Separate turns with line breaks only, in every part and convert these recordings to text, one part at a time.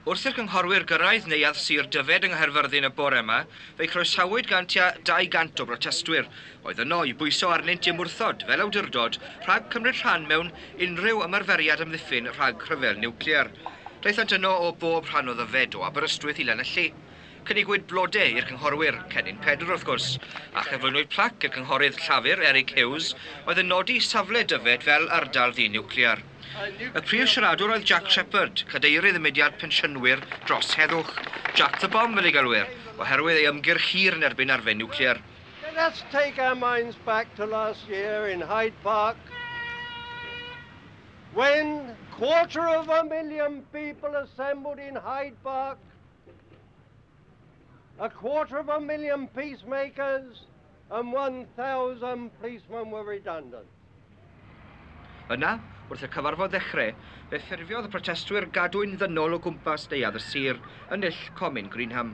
Wrth i'r cynghorwyr gyrraedd Neuadd Sir Dyfed yng Nghaerfyrddin y bore yma, fe'i croesawyd gan tua 200 o brotestwyr oedd yno i bwyso arnynt i ymwrthod fel awdurdod rhag cymryd rhan mewn unrhyw ymarferiad amddiffyn rhag rhyfel niwclear. Daethant yno o bob rhan o Ddyfed, o Aberystwyth i Lanelli. Cynigwyd blode i'r cynghorwyr, Cennin Pedr wrth gwrs, a chyflwynwyd plac i'r cynghorydd Llafur, Eric Hughes, oedd yn nodi safle Dyfed fel ardal ddi-niwclear. Y prif siaradwr oedd Jack Shepherd, cadeirydd y mudiad pensiynwyr dros heddwch, Jack the Bomb fel ei gelwir, oherwydd ei ymgyrch hir yn erbyn arfau niwclear. Let's take
our minds back to last year in Hyde Park when quarter of a million people assembled in Hyde Park, a quarter of a million peacemakers, and 1,000 policemen were redundant.
Yna, wrth y cyfarfod ddechrau, fe ffurfiodd y protestwyr gadwyn ddynol o gwmpas neuadd y sir, yn null Comin Greenham.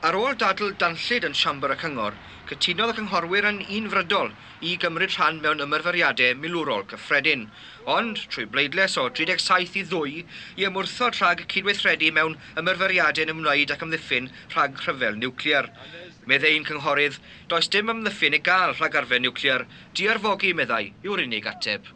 Ar ôl dadl danllyd yn Siambr y Cyngor, cytunodd y cynghorwyr yn unfrydol i gymryd rhan mewn ymarferiadau milwrol cyffredin, ond, trwy bleidlais o 37 i ddwy, i ymwrthod rhag cydweithredu mewn ymarferiadau'n ymwneud ac amddiffyn rhag rhyfel niwclear. Meddai un cynghorydd, Does dim amddiffyn i gael rhag arfer niwclear, di-arfogi, meddai, yw'r unig ateb.